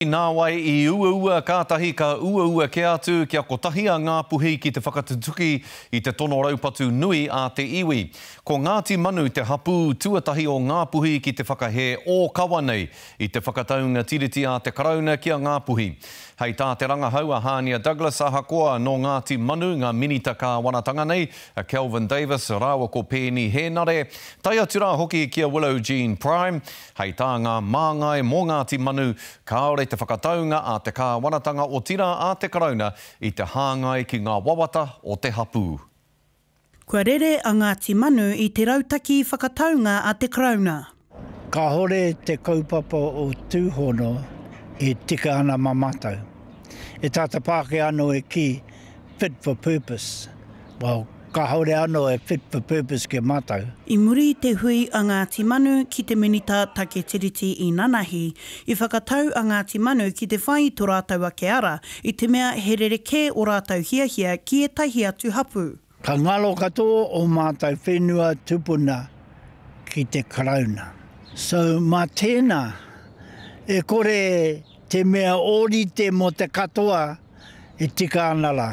Nāwai i uaua kātahi ka uaua kē atu kia kotahi a Ngāpuhi ki te whakatutuki i te tono raupatu nui a te iwi. Ko Ngāti Manu te hapū tuatahi o Ngāpuhi ki te whakahē ōkawa nei i te whakataunga tiriti a te Karauna ki a Ngāpuhi. Hei tā te rangahau a Hānia Douglas ahakoa nō Ngāti Manu ngā minita kāwanatanga nei, a Kelvin Davis rāua ko Peeni Hēnare, tae atu rā hoki ki a Willow Jean Prime, Hei tā ngā māngai mō Ngāti Manu, kāore te whakataunga a te kāwanatanga otirā a te Karauna i te hāngai ki ngā wawata o te hapū. Kua rere a Ngāti Manu i te rautaki whakataunga a te Karauna. Kāore te kaupapa o Tūhono e tika ana mā mātou. E tātapākehā anō e kī, fit for purpose. Well, Kāore anō e fit for purpose ki a mātou. I muri i te hui a Ngāti Manu ki te Minita Take Tiriti Inanahi, i whakatau a Ngāti Manu ki te whai i tō rātou ake ara, i te mea he rerekē ō rātou hiahia ki ētahi atu hapū. Ka ngaro katoa ō mātou whenua tupuna ki te Karauna. So, mā tēnā, e kore te mea ōrite mō te katoa. e tika ana rā.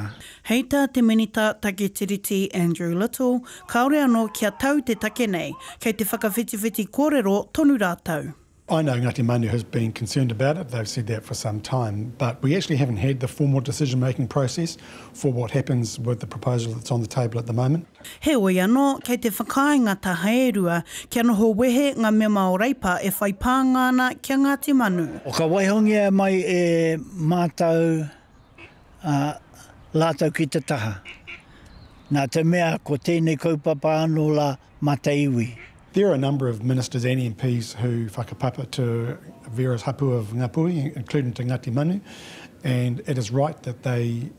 Hei tā te Minita Take Tiriti Andrew Little, kāore anō kia tau te take nei, kei te whakawhitiwhiti kōrero tonu rātou. I know Ngāti Manu has been concerned about it, they've said that for some time, but we actually haven't had the formal decision-making process for what happens with the proposal that's on the table at the moment. Heoi anō, kei te whakaae ngā taha e rua kia noho wehe ngā mema o Reipa e whai pānga ana ki a Ngāti Manu. Ka waihongia mai e mātou a rātou ki te taha, nā te mea ko tēnei kaupapa anō rā mā te iwi. There are a number of ministers and MPs who whakapapa to various hapu of Ngāpuhi, including to Ngati Manu, and it is right that they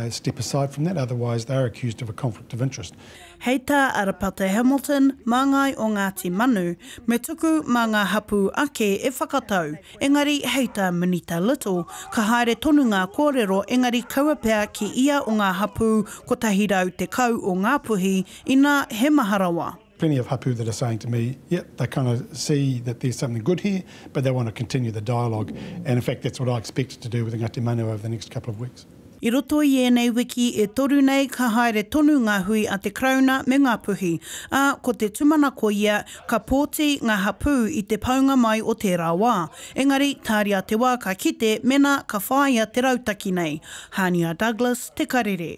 step aside from that, otherwise they are accused of a conflict of interest. Hei tā Arapate Hamilton, māngai o Ngāti Manu, me tuku mā ngā hapū ake e whakatau, engari hei tā Minita Little, ka haere tonu ngā kōrero engari kaua pea ki ia o ngā hapū 110 o Ngāpuhi, inā he maha rawa. Plenty of hapū that are saying to me, yep, they kind of see that there's something good here, but they want to continue the dialogue, and in fact that's what I expect to do with Ngāti Manuao over the next couple of weeks. I roto i ēnei wiki e toru nei ka haere tonu ngā hui a te Karauna me Ngāpuhi, ā, ko te tumanako ia ka pōti ngā hapū i te paunga mai o tērā wā. Engari, tāria te wā ka kite mēnā ka whāia te rautaki nei. Hania Douglas, Te Karere.